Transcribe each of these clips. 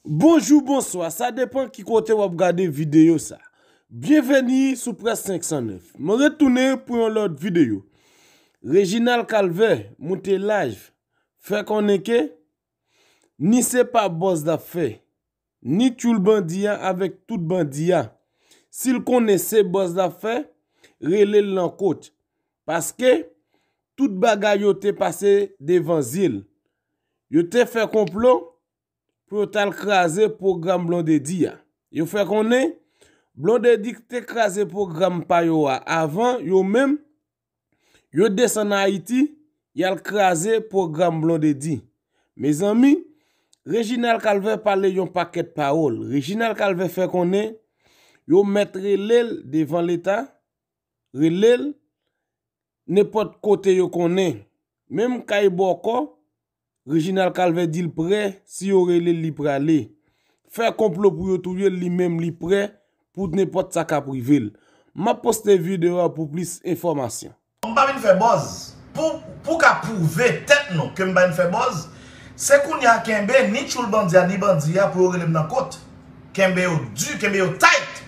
Bonjou bonswa sa depan ki kote wap gade videyo sa Byenveni sou près 509 mwen retounen pou yon lòt videyo Reginald Calvè moute lajv fè konnen ke ni se pa bòz lap fè ni tyoul bandi a avèk tout bandi a sil konnen se bòz lap fè relel nan kot Paske, tout bagay yo te pase devan zye l. Yo te fè konplo pou yo t al kraze pwogram Blondedy a. Yo fè konnen, Blondedy ki te kraze pwogram pa yo a avan, yo menm, yo desann Ayiti, y al kraze pwogram Blondedy. Mezanmi, Reginald Calvert pale yon pakèt pawòl. Reginald Calvert fè konnen, yo mèt rele l devan Leta, rele l nenpòt kote yo konnen. Menm kay bòkò, Reginald Calvert di l prè si yo rele l li prale. Fè konplo pou yo touye l li menm li prè pou nenpòt sa kap rive l. Map poste video a pou plis enfòmasyon. M pa vin fè bòz. Pou ka pwouve tèt nou ke m pa vin fè bòz, se kounye a kenbe ni tchoul bandi a ni bandi a pou yo rele m nan kot. Kenbe yo di, kenbe yo tight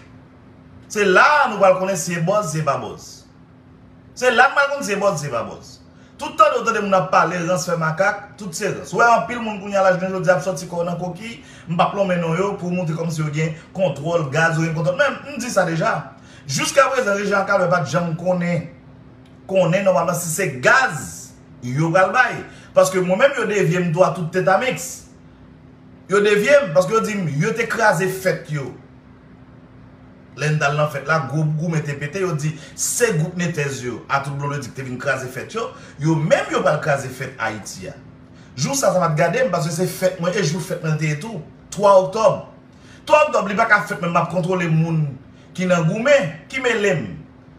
Se la a nou pral konnen si e bòz si e pa bòz. Se la a nou pral konnen si e bòz si e pa bòz. Tout tande ou tande moun ap pale rans fè makak, tout se rans. Ou wè anpil moun kounye a la jounen jodi a ap sòti kò nan kokiy, m p ap lonmen non yo, pou montre kòmsi yo gen kontwòl gaz, yo gen kontwòl men m di sa deja, jiskaprezan rejyon ak Alwè pa t janm konnen konnen nòmalman si se gaz yo pral bay. Paske mwen menm yo devye m tou a tout tetamiks. Yo devye m paske yo di m yo te kraze fèt yo. Lè n t al nan fèt la, gwo goumen te pete, yo di, Se gwoup Netez yo, atout Blondedy ki te vin kraze fèt yo, yo menm yo pral kraze fèt Ayiti a. Jou sa, sa pa t gade m, paske se fèt mwen e jou fèt mwen l te ye tou, 3 oktòb. 3 oktòb, li pa ka fèt men m ap kontwole moun ki nan goumen, ki mele m.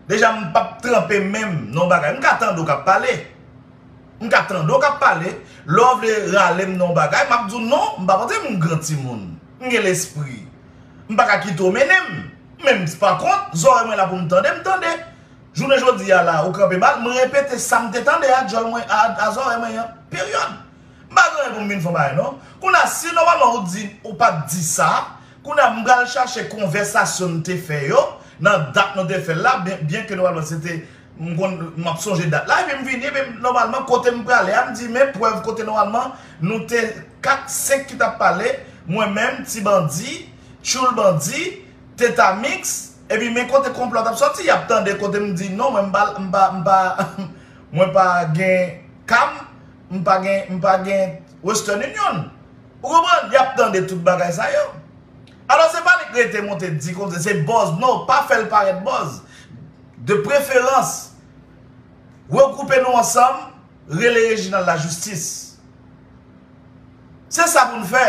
Deja m p ap tranpe men m nan yon bagay. M ka tande w k ap pale. M ka tande w k ap pale. Lè w vle rale m nan yon bagay, m ap di w non, m pa panse m gran timoun. M gen lespri. M pa ka kite w mennen m. Men m pa kont, zòrèy mwen la pou m tande, m tande. Jounen jodi a la, ou kanpe ba l, m repete sa m te tande a djòl mwen, a zòrèy mwen an. Peryòd. M pa gen anyen pou m vin fè w bagay non. Kounye a, si nòmalman ou di, ou pa t di sa, kounye a m pral chache konvèsasyon n te fè yo, nan dat nou te fè l la, byenke nòmalman se te. M konn m ap sonje dat la epi m vini epi nòmalman kote m prale a m di men prèv kote nòmalman nou te 4, 5 ki t ap pale mwen menm, ti bandi, tchoul bandi, teta mix epi men kote konplo a t ap soti y ap tande kote m di non mwen m pa m pa mwen pa gen cam m pa gen m pa gen western union ou konprann y ap tande tout bagay sa yo alò se pa li k rete monte di konm se se bòz non pa fè l parèt bòz. De preferans, regroupe nou ansanm, rele Reginald la justice. Se sa pou nou fè.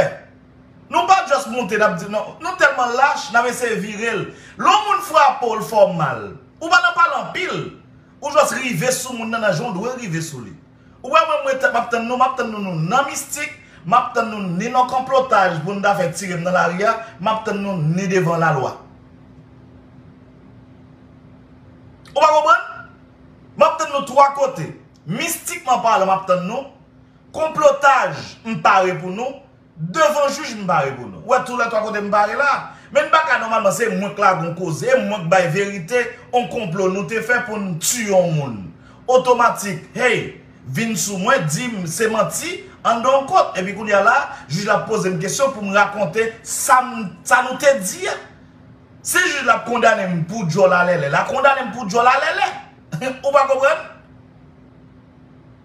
Nou pa just moute nap di non. Nou telman lach nap eseye vire l. Lè yon moun frape w, l fè w mal. Ou pa nan pale anpil. Ou just rive sou moun nan nan jan w dwe rive sou li. Ou wè mwen mwen map tann nou map tann nou nou nan mistik map tann nou ni nan konplotaj pou nou ta fè tirem nan lari a map tann nou ni devan lalwa ou pa konprann map tann nou 3 kote mistikman palan map tann nou konplotaj m pare pou nou Devan jij m pare pou nou. Ou wè tou lè 3 kote m pare la. Men n pa ka nòmalman se mwen k lage yon koze e mwen k bay verite yon konplo nou te fè pou n tiye yon moun. Otomatik hey vin sou mwen di m se manti anndan yon kot epi kounye a la jij la ap poze m kesyon pou m rakonte sa m sa nou te di a. Si jij la ap kondane m pou djòl alèlè la kondane m pou djòl alèlè. Ou pa konprann?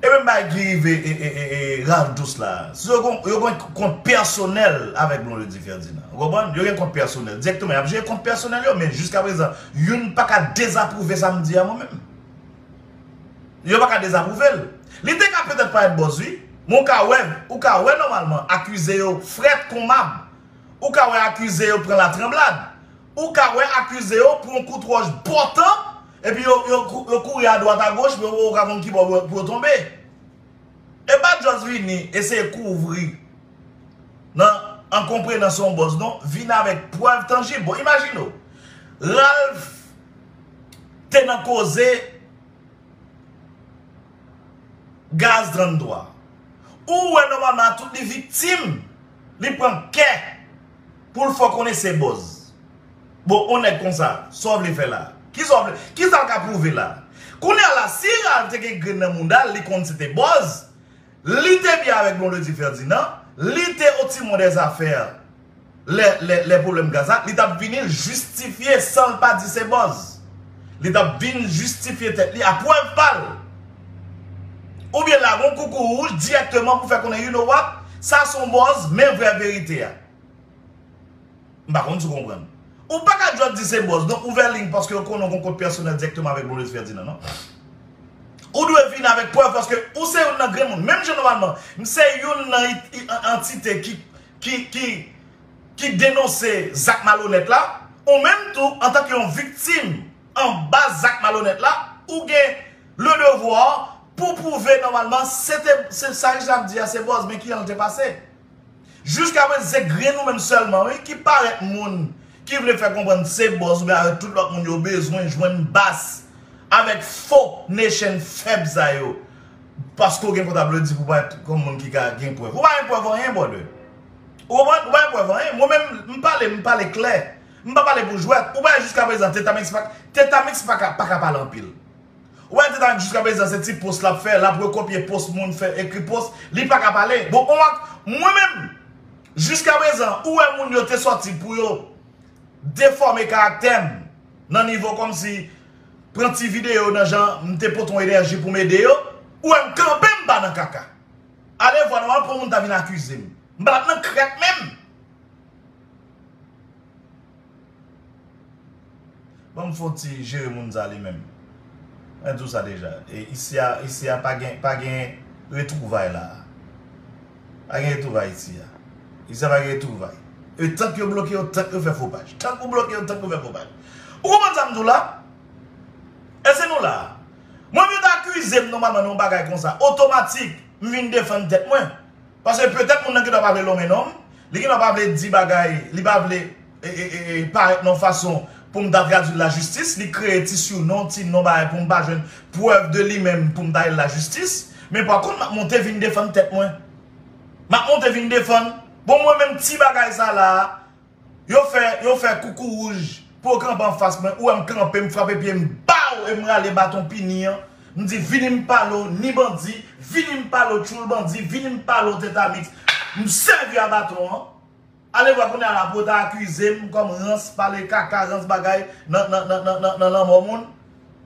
E menm bagay ki rive Ralph Douce la. Yo gen kont pèsonèl avèk Blondedy Ferdinand. Ou konprann? Yo gen kont pèsonèl. Direkteman y ap jere kont pèsonèl yo men jiska prezan youn pa ka dezapwouve sa m di a mwen menm. Yo pa ka dezapwouve l. Li te ka petèt parèt bòz wi. Men ou ka wè, ou ka wè nòmalman akize yo frèt kon mab. Ou ka wè akize yo pran latranblad. Ou ka wè akize yo pran kout wòch bòtan. Epi yo yo kouri a dwat a goch men yo poko ka konn kibò pou yo tonbe. E pa just vini eseye kouvri nan enkonprenans yon bòs non, vini avèk prèv tanjib. Bon imajine w, Ralph te nan koze gaz 33. Ou wè nòmalman a tout li viktim, li pran kè pou l fè w konnen se bòz. Bon on nèg konsa, sa w vle fè la? Kisa w vle, kisa l ka pwouve la? Kounya la, si Ralph te gen grenn nan mouda l, li konn se te bòz, li te byen avèk Blondedy Ferdinand, li te au timon des affaires lè, lè, lè pwoblèm gaz la, li t ap vini jistifye san l pa di se bòz. Li t ap vin jistifye tèt li a prèv pa l. Oubyen lage on koukou wouj dirèkteman pou fè konnen you know what, sa s on bòz, men vrè verite a. M pa konn si w konprann. Ou pa ka just di se bòz non ouvè liy paske yo konnen w gen kont pèsonèl dirèkteman avèk Maurice Ferdinand non. Ou dwe vin avèk prèv paske ou se youn nan grenmoun. Menm jan nòmalman m se youn nan antite ki denonse zak malonèt la, ou menm tou antanke yon viktim anba zak malonèt la, ou gen le devoir pou w pwouve nòmalman se te sa Reginald di a se bòz men kijan l te pase. Jiska prezan se grenn ou menm sèlman wi ki parèt moun ki vle fè konprann se bòs ou byen avèk tout lòt moun yo bezwen jwenn bas avèk fo nation fèb sa yo paske ou gen kont aplodi pou parèt kòm moun ki ka gen prèv. Ou pa gen prèv anyen brother. Ou konprann? Ou pa gen prèv anyen. Mwen menm m pale m pale klè. M pa pale pou jwèt. Ou pa wè jiska prezan Tetamix pa ka pale anpil. Ou wè titanik jiska prezan se ti post lap fè lap rekopye post moun fè ekri post li paka pale bon ou ak mwen menm jiska prezan ou wè moun yo te sòti pou yo defòme karaktèm nan nivo kòmsi pran ti video nan jan mte pote yon enèji poum ede yo ou wèm kanpe mpa nan kaka ale vwa nou anpwen moun ta vin akizem mpa nan krèk menm. Banm fon ti jere moun sa li menm. Mwen di w sa deja. Isi a isi a pa gen pa gen retwouvay la a. Pa gen retwouvay isi a. Isi a pa gen retwouvay. E tank yo bloke yo tank yo fè fo paj. Tank ou bloke yo tank ou fè fo paj. Ou konprann sa m di w la? Èske nou la a? Mwen m yo ta akize m nòmalman nan yon bagay konsa otomatik m vin defann tèt mwen. Paske petèt moun nan gendwa pa vle lonmen non m, li gendwa pa vle di bagay, li pa vle parèt nan yon fason pou m ta tradui l lajistis, li kreye ti siwnon, ti non bagay pou m pa jwenn prèv de li menm pou m ta ale l lajistis. Men pa kont m ap monte vin defann tèt mwen. M ap monte vin defann, bon mwen menm ti bagay sa la a, Yo fè yo fè koukouwouj pou yo kanpe anfas mwen, ou wè m kanpe m frape pye m baw e m rale baton pini an, m di vini m pale w ni bandi, vini m pale w tchoul bandi, vini m pale w tetamiks, m sèvi a baton an, alevwa kounye a la pou yo ta akize m kòm rans pale kaka rans bagay nan nan nan nan lanmò moun.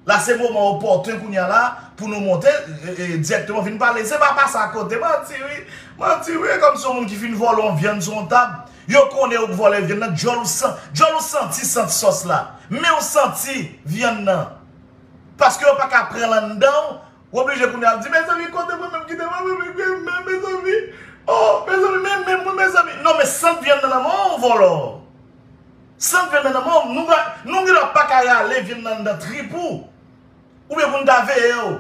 La se moman opòten kounya la pou nou monte dirèkteman vin pale. Se pa pase akote. Manti wi. Manti wi. E kòm se yon moun ki fin vòlè yon vyann sou yon tab, yo konnen ou k vòlè vyann nan, djòl ou san, djòl ou santi sant sòs la. Men ou santi vyann nan. Paske yo pa ka pran l anndan ou, ou oblije kounya ap di, mezanmi kote mwen menm kite mwen menm ki gen men mezanmi. Oh mezanmi men men mwen mezanmi. Non men sant vyann nan nan men w vòlò. San pè nan nanm ou, nou gen lwa pa ka rale vin anndan trip ou. Oubyen pou n ta veye w.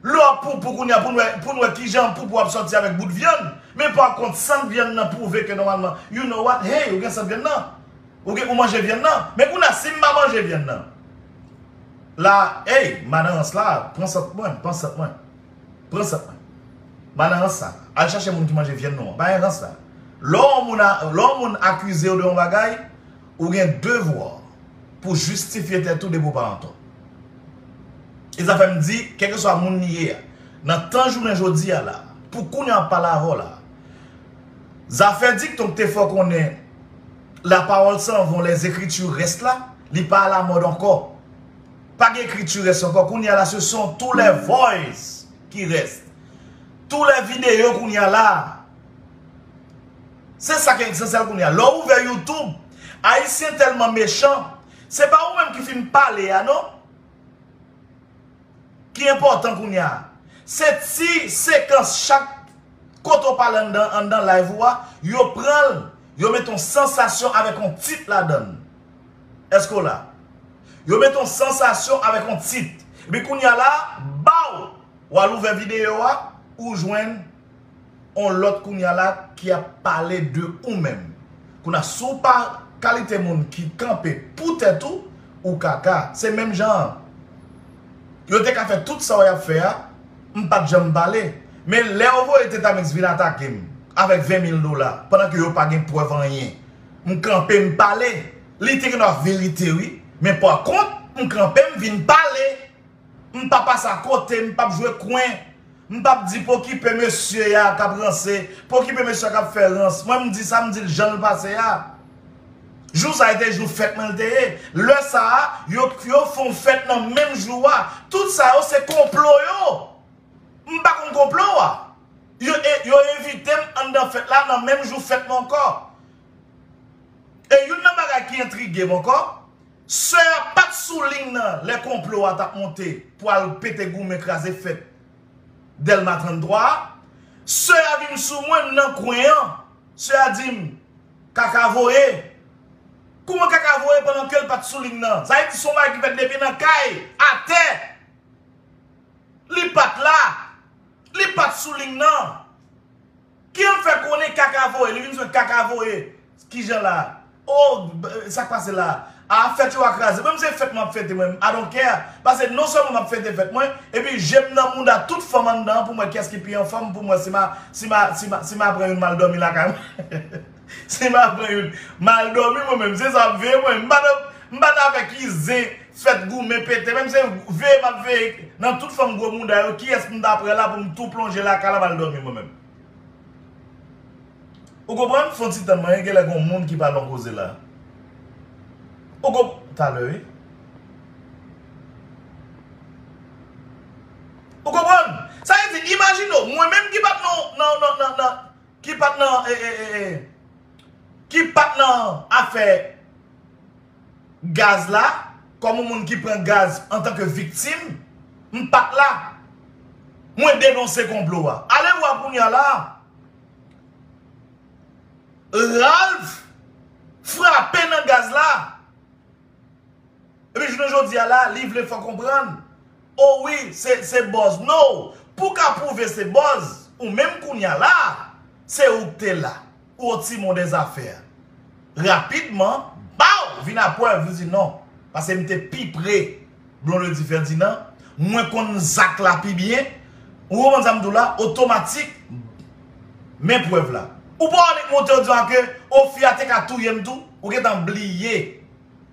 Lè w ap poupou kounye a pou n wè ki jan poupou ap sòti avèk bout vyann. Men pa kont sant vyann nan pwouve ke nòmalman you know what, hey ou gen sant vyann nan. Ou manje vyann nan. Men kounye a si m pa manje vyann nan. La hey madan rans la pran sant mwen, pran sant mwen. Pran sant mwen. Bana rans sa. Al chache moun ki manje vyann nou an. Bana rans sa. Lè yon moun akize ou de yon bagay, ou gen devwa pou jistifye tèt ou depi ou pa antò. E sa fè m di, kèlkeswa moun li ye a, nan tan jounen jodi a la, pou kounye a m ap pale avè w la, zafè dikton ki te fè w konnen la parole s'en vont, les écritures restent là, li pa alamòd ankò. Pa gen kri tu rès ankò kounye a la se son tou lè voice ki rès. Tou lè videyo kounye a la. Se sa ki esansèl kounye a. Lè w ouvè youtube, ayisyen tèlman mechan, se pa ou menm ki fin pale a non ki enpòtan kounye a. Se ti sekans chak kote w pale anndan live ou a, yo pran l, yo mete yon sansasyon avèk yon tit ladan l. Eske w la? Yo met yon sansasyon avèk yon tit. Epi kounya la, baw! W al ouvè videyo a, ou jwenn yon lòt kounya la ki ap pale de ou menm. Kouna si w pa kalite moun ki kanpe pou tèt ou, ou kaka. Se menm jan an. Yo te ka fè tout sa w ap fè a, m pa t janm pale. Men lè yo voye Tetamix vin atake m avèk 20 mil dola pandan ke yo pa gen prèv anyen. M kanpe m pale. Li te gen verite wi. Men pa kont, m kanpe m vin pale. M pa pase a kote, m pap jwe kwen. M pap di pokipe mesye a kap ranse, pokipe mesye a kap fè rans. Mwen m di sa, m di l jan l pase a. Jou sa e te jou fèt mwen l te ye. Lè sa a, yo fon fèt nan menm jou a. Tout sa yo se konplo yo. M pa konn konplo a. Yo envite m anndan fèt la nan menm jou fèt mwen ankò. E youn nan bagay ki entrige m ankò, sè a pa t sou liy nan lè konplo a t ap monte pou al pete goumen kraze fèt Dèlma 33 a. Sè a vin sou mwen, m nan kwen an, sè a di m, Kaka voye. Kouman kaka voye pandan ke l pa t sou liy nan? Sa vle di se yon bagay ki fèt depi nan kay, atè. Li pat la. Li pat sou ligne nan. Kijan l fè konnen kaka voye. Li vin jwenn kaka voye. Kijan la. Oh sak pase la. Ah fèt yo a kraze. Mwen menm se fèt map fete mwen menm. I don't care. Pase non sèlman map fete fèt mwen. Epi je m nan mouda tout fanm anndan an pou m wè kiyès ki pi anfòm pou m wè si ma pran youn mal dòmi lakay mwen. Si ma pran youn mal domi mwen menm se sa ap veye mwen m pa nan fè ki zen fèt goumen pete menm se veye map veye nan tout fanm gwo mouda yo kiyès m ta pran la pou m tou plonje lakay la mal domi mwen menm ou konprann fon ti tann mwen genlè gon moun ki pa nan koze la ou konp talè wi ou konprann sa vle di imajine w mwen menm ki pat nan nan nan nan. ki pat nan ki pat nan afè gaz la kòm yon moun ki pran gaz antan ke viktim m pat la mwen denonse konplo a ale vwa kounye a la Ralph frape nan gaz la. Epi jounen jodi a la li vle fè w konprann oh wi se buzz no pou w ka pwouve se buzz ou menm kounya la se ou k te la ou o timon de zafè a rapidman baww vin a prèv li di non pase m te pi pre Blondedy Ferdinand, mwen konn zak la pi byen, ou konprann sa m di w la, otomatik, men prèv la. Ou pa annik monte ou di w a ke, o fi a te ka touye m tou, ou gentan bliye,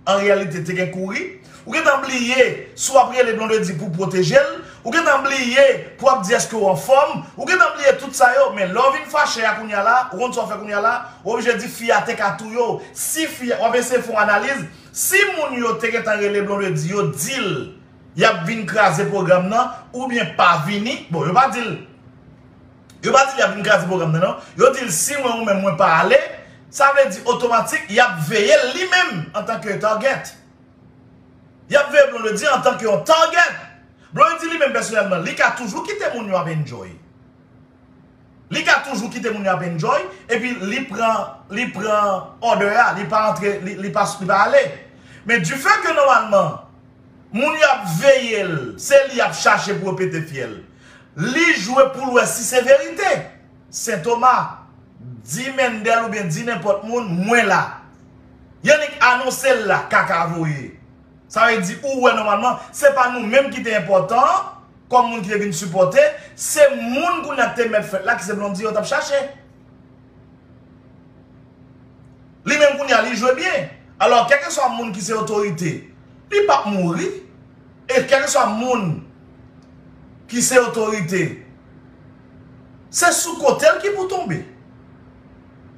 an reyalite te gen kouri, ou gentan bliye si w ap rele Blondedy pou w pwoteje l, ou gentan bliye pou w ap di eske w anfòm, ou gentan bliye tout sa yo, men lè w vin fache a kounya la, ou konn sa w fè kounya la, ou oblije di fi a te ka touye w, si fi a, w ap eseye fè yon analiz, Si moun yo te gentan rele Blondedy yo dil yap vin kraze program nan oubyen pa vini bon yo pa dil yo pa dil yap vin kraze program nan non yo dil si mwen ou menm mwen pa ale sa vle di otomatik yap veyel li menm antan ke target yap veye Blondedy antan ke yon target Blondedy li menm pèsonèlman li ka toujou kite moun yo ap enjoy. Li ka toujou kite moun yo ap enjoy epi li pran li pran order a li pa antre li pa ale men du fait ke normalman moun yo ap veye l se li yap chache pou yo pete fyèl li jwe pou l wè si se verite sentoma di Mendel oubyen di nenpòt moun mwen la Yannick anonse l la kaka voye. Sa vle di ou wè nòmalman se pa nou menm ki te enpòtan an kòm moun ki te vin sipòte, se moun kounye a ki te mèt fèt la ki se Blondy yo t ap chache. Li menm kounye a li jwe byen. Alò kèlkeswa moun ki se otorite li pap mouri e kèlkeswa moun ki se otorite se sou kote l ki pou tonbe.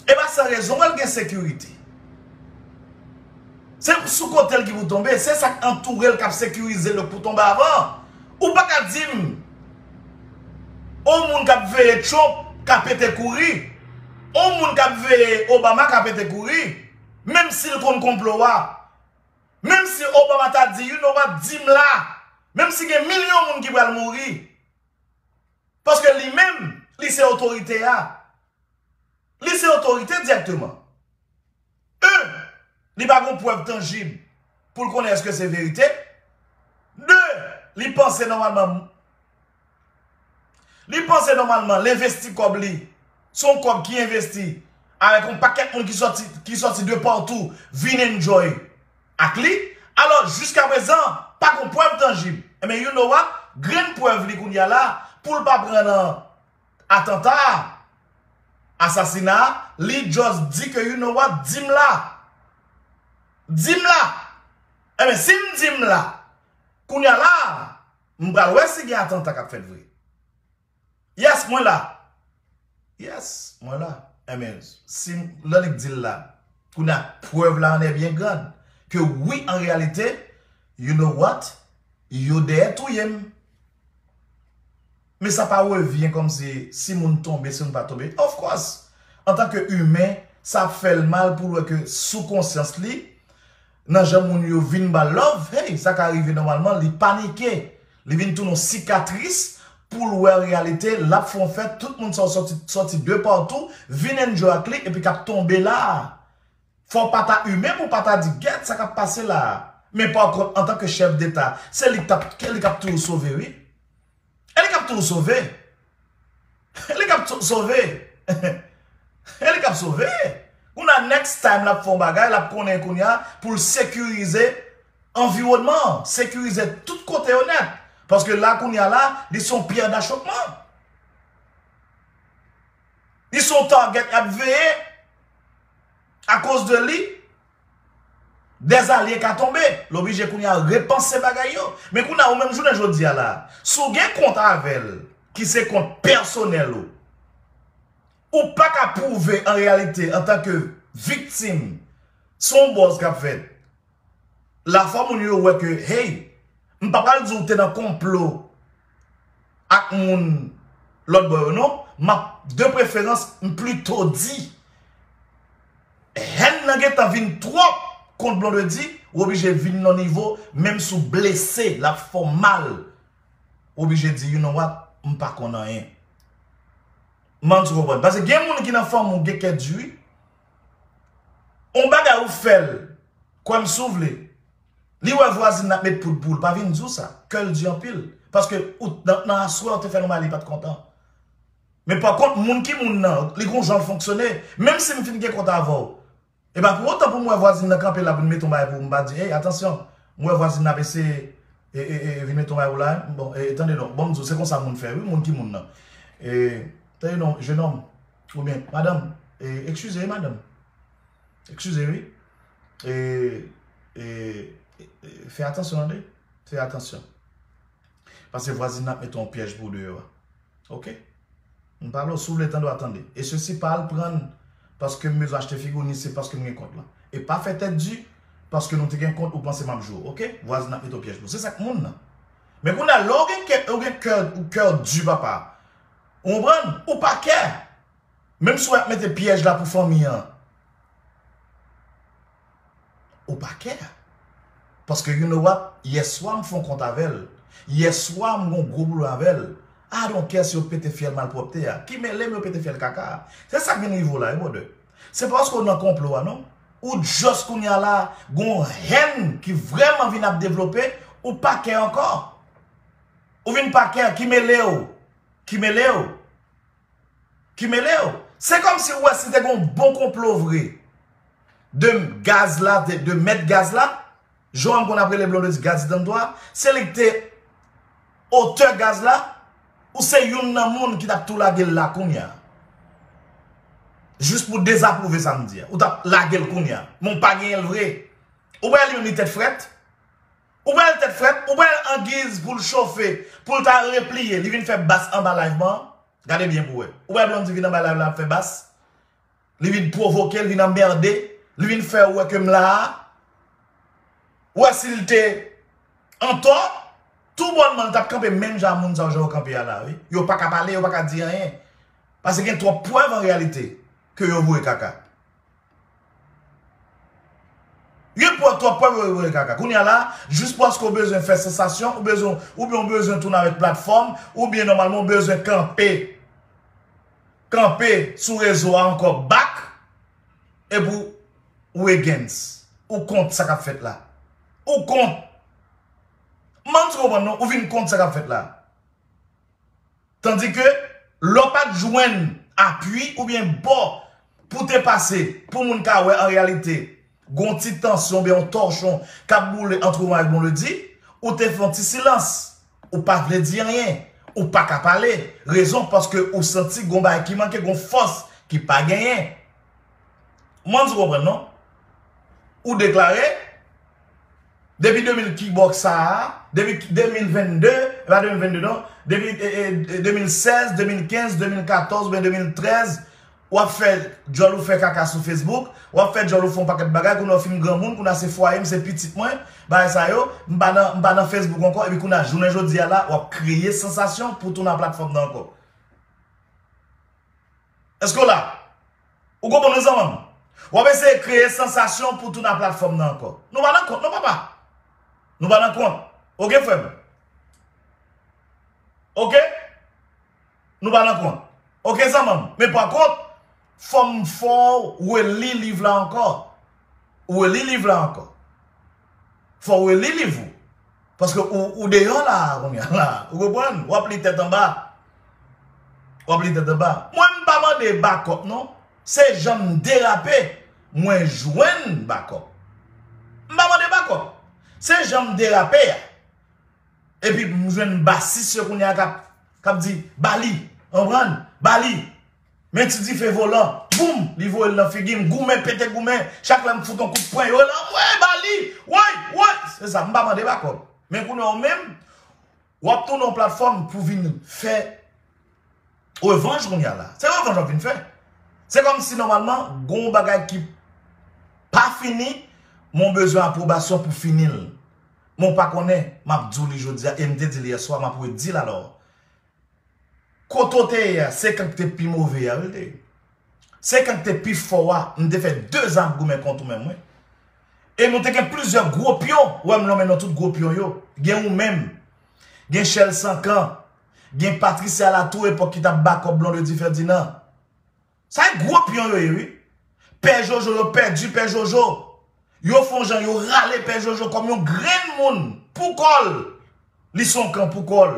E pa san rezon wè l gen sekirite. Se sou kote l ki pou tonbe, se sa k antoure l k ap sekirize l pou tonbe avan an. Ou pa ka di m yon moun k ap veye Trump ka pete kouri, yon moun k ap veye Obama ka pete kouri, menm si l konn konplo a. Menm si Obama ta di, you know what, di m la, menm si gen milyon moun ki pral mouri, paske li menm, li se otorite a. Li se otorite dirèkteman. 1. Li pa gon prèv tanjib pou l konnen èske se verite. 2. Li panse nòmalman Li panse nòmalman l envesti kòb li se yon kòb ki envesti avèk yon pakèt moun ki sòti de patou vin enjoy ak li. Alò, jiska prezan, pa gon prèv tanjib. Enben, you know what? Grenn prèv li kounye a la pou l pa pran nan. Atanta a! Asasina a! Li just di ke you know what? Di m la! Di m la! Enben, si m di m la, kounye a la a, m pral wè si gen atanta k ap fèt vre. Yes, mwen la! Yes, mwen la! Enben, si m, lè li di l la, kounye a, prèv la an è byen grand, ke wi an reyalite, you know what? Yo dèyè touye m! Men sa pa revyen kòm se si moun tonbe, si moun pa tonbe. Of course! Antanke imen, sa ap fè l mal pou l wè ke sou konsyans li, nan jan moun yo vin ba l love, hey, sa ka rive nòmalman, li panike. Li vin tounen yon sikatris pou l wè an reyalite, l ap fè yon fèt, tout moun sa yo soti, soti de patou, vin enjoy ak li epi k ap tonbe la a. Fò w pa ta imen pou w pa ta di, gèt sa k ap pase la a. Men pa kont, antanke chèf deta, se li k t ap, se li k ap toujou sove wi. E li kap tou sove. E li kap tou sove. E li kap sove. Kouna next time lap fon bagay lap konnen kounya poul sekirize anviwònman. Sekirize tout kote yo nèt. Paske la kounya la li son pyè dachopman. Li son target yap veye. A koz de li. Des alye ka tonbe, l oblije kounye a repanse bagay yo. Men kounye a ou menm jounen jodi a la a, si w gen kont avè l ki se kont pèsonèl ou, ou pa ka pwouve an reyalite antanke viktim se yon buzz k ap fèt la fò moun yo wè ke hey m pa pral di w te nan konplo ak moun lòt bò yo non, m ap de preferans m plito di hèn nan gentan vin twòp kont Blondedy ou oblije vin nan nivo menm si w blese l ap fè w mal ou oblije di you know what m pa konn anyen m panse w konprann paske gen moun ki nan fanmi w gen kè di wi on bagay ou fè l kwè m si w vle. Li wè vwazin ap met poud poul pa vin di w sa, kè l di anpil, paske ou t nan aswè ou te fè l yon bagay li pat kontan. Men pa kont moun ki moun nan, li gon jan l fonksyone, menm si m fin gen kont avè w, e pa pou otan pou m wè vwazin nan kanpe la vin mete yon bagay pou ou m pa di ey atansyon m wè vwazin nan ap eseye e vin mete yon bagay pou la m bon e tande non bon m di w se konsa moun fè wi moun ki moun nan e tande non jenòm oubyen madanm e ekskize wi madanm ekskize wi. Fè atansyon tande, fè atansyon. Pase vwazin nan ap mete yon pyèj pou ou deyò a. Ok? M pa la w, si w vle tande w a tande. E se si pa al pran paske m bezwen achte figo ni se paske m gen kont lan. E pa fè tèt di paske nou te gen kont ou panse m ap jwe w. Ok? Vwazin nan ap mete yon pyèj pou ou. Se sa k moun nan. Men kounye a lè w gen kè, ou gen kè, kè w di papa. Ou konprann? Ou pa kè. Menm si w ap mete pyèj la pou fanmi an ou pa kè paske you know what yèswa m fon kont avè l yèswa m gon gwo pwoblèm avè l I don't care si yo pete fyèl malpwòpte a ki mele m yo pete fyèl kaka a se sa k vin rive w la wi brother se paske w nan konplo a non ou just kounye a la gon haine ki vrèman vin ap devlope ou pa kè ankò ou vin pa kè ki mele w ki mele w. ki mele w. Se kom si ou wè si te gon bon konplo vre de gaz la, de mèt gaz la, jan m konn ap rele Blondedy Gaz Dantò a, se li ki te otè gaz la, ou se youn nan moun ki tap tou lage l la kounya. Jis pou dezapwouve sa m di a. Ou tap lage l kounya. Men w pa genyen l vre. Ou pa wè li menm li tèt frèt. Ou bel tet frem, ou bel angiz poul chofe, poul ta repliye, li vin fe bas anba live man, gade byen pou we. Ou we Blondy vin anba live la ap fe bas, li vin provoke, li vin anmerde, li vin fe we kem la a, ou we sil te anto, tou bonman li tap kanpe menm jan a moun sa yo jan yo kanpe a la wi. Yo paka pale, yo paka di anyen, pase gen twop prev an realite ke yo voye kaka. Yo pran twòp pwen pou yo kaka. Kounye a la, jis paske w bezwen fè sansasyon, ou bezwen, oubyen w bezwen tounen avèk platfòm, oubyen nòmalman w bezwen kanpe, kanpe sou rezo a ankò back, epi w, ou against, ou kont sa k ap fèt la. Ou kont. M pa menm si w konprann non, ou vin kont sa k ap fèt la. Tandi ke lè w pa t jwenn apui oubyen bò pou te pase pou moun ka wè an reyalite gon ti tansyon oubyen yon tòchon k ap boule ant Roman ak Bonledi, ou te fè yon ti silans, ou pa vle di anyen, ou pa ka pale, rezon paske ou santi gon bagay ki manke, gon fòs ki pa genyen. M panse ou konprann non. Ou deklare, Depi 2000 kibòk sa a, depi 2022, e pa 2022 non, depi 2016, 2015, 2014 oubyen 2013, w ap fè djòl ou fè kaka sou Facebook, w ap fè djòl ou fè yon pakèt bagay, kounye a w fin granmoun, kounye a se fwaye m, se pitit mwen, bagay sa yo, m pa nan, m pa nan Facebook ankò, epi kounye a jounen jodi a la, w ap kreye sansasyon pou w tounen nan platfòm nan ankò. Èske w la? Ou konprann mwen zanmanm? Wap eseye kreye sansasyon pou tou nan platfòm nan ankò. Nou pa nan kont non papa. Nou pa nan kont. Ok frèm. Ok. Nou pa nan kont. Ok zanmanm. Men pa kont. Fòm fòw. Ou e li liv la ankò. Ou e li liv la ankò. Fò ou reli liv ou. Paske ou deyò la a kounye a la. Ou konprann? Ou ap li tèt anba. Ou ap li tèt anba. Mwen m pa mande bakòp non. Se jan m derape, mwen jwenn bakòp. M pa mande bakòp. Se jan m derape a. Epi m jwenn basis yo kounye a k ap di, ba li. Konprann? Ba li. Men ti dife volan, boum! Li voye l nan figi m. Goumen, pete goumen. Chak lè m fout on kout pwen, yo la, woy! Ba li! Woy! Woy! Se sa. M pa mande bak òd. Men kounye a ou menm, w ap tounen yon platfòm pou vin fè revanj kounye a la. Se revanj w ap vin fè. Se kòm si nòmalman, gen yon bagay ki pa fini, men w bezwen apwobasyon pou fini l. Men w pa konnen, m ap di w li jodi a e m te di l yèswa, m ap redi l alò. Kote w te ye a, se kan k te pi move a wi l te ye. Se kan k te pi fò a, m te fè 2 zan ap goumen kont ou menm wi. E nou te gen plizyè gwo pyon, ou wè m lonmen non tout gwo pyon yo. Gen ou menm, gen Chèl Sankan, gen Patricia Latour epòk ki t ap bakòp Blondedy Ferdinand. Sa e gro pion yo ye wi. Pè jojo yo pèdi pè jojo yo fon jan yo rale pè jojo kòm yon grenn moun pou kòl li son kan pou kòl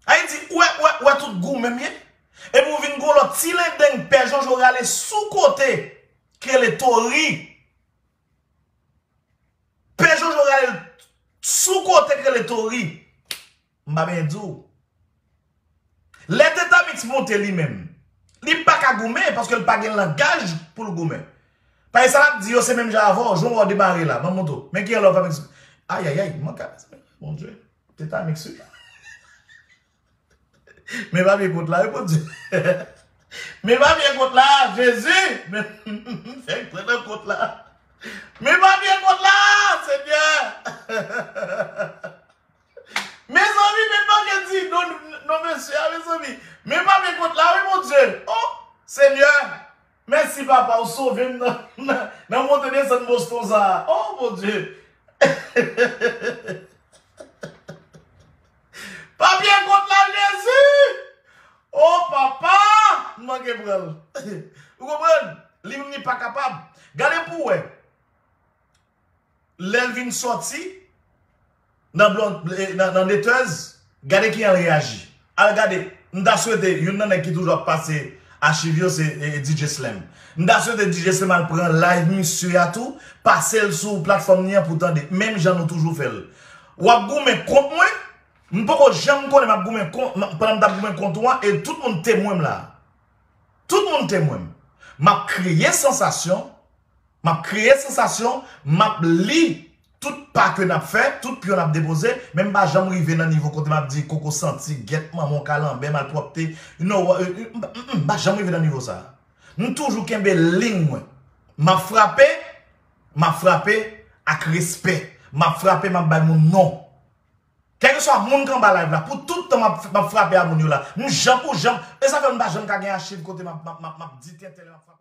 Ayiti ou wè ou wè tout gou menm ye epi ou vin gon lòt ti lendeng pè jojo rale sou kote ki rele tori pè jojo rale sou kote ki rele tori. M pa benyen di w. Lè Tetamix monte li menm, li pa ka goumen paske l pa gen langaj pou l goumen. Paske sa l ap di yo se menm jan avè w, jan w wè w demare la, manman w tou. Men kijan lè w fè mix. Ayayay, mank a mezanmi. Bondye, Tetamix wi. Men papye kont la wi Bondye. Men papye kont la, Jezi! Men fèk pran nan kont la. Men papye kont la, Senyè! Mezanmi men manke di non non mesye a mezanmi men pale kot la wi mon Dieu oh senyè mèsi papa ou sovem nan monte desann Boston sa oh mon Dieu papye kot la jezi oh papa m manke pranl ou konprann li menm li pa kapab gade pou wè lèl vin sòti nan nan netez gade kijan l reyaji al gade m ta swete youn nan nèg ki toujou ap pase achiv yo se DJ slèm m ta swete DJ slèm al pran live misye a tou pase l sou platfòm li an pou tande menm jan nou toujou fè l wap goumen kont mwen m poko janm konnen map goumen kont pandan m tap goumen kont ou an e tout moun temwen m la tout moun temwen m map kreye sansasyon. Map kreye sansasyon, map li tout pa ke nap fè, tout pyon nap depoze, men m pa janm rive nan nivo kote map di koko santi, gèt manman w kalanbè, malpwòpte, you know what, m pa janm rive nan nivo sa. M toujou kenbe liy mwen. Map frape, map frape ak respè. Map frape map bay moun non. Kèlkeswa moun k anba live la, pou tout tan map frape a moun yo la. M janm, ou janm, e sa fè m pa janm ka gen achiv kote map di tenten lè map frape.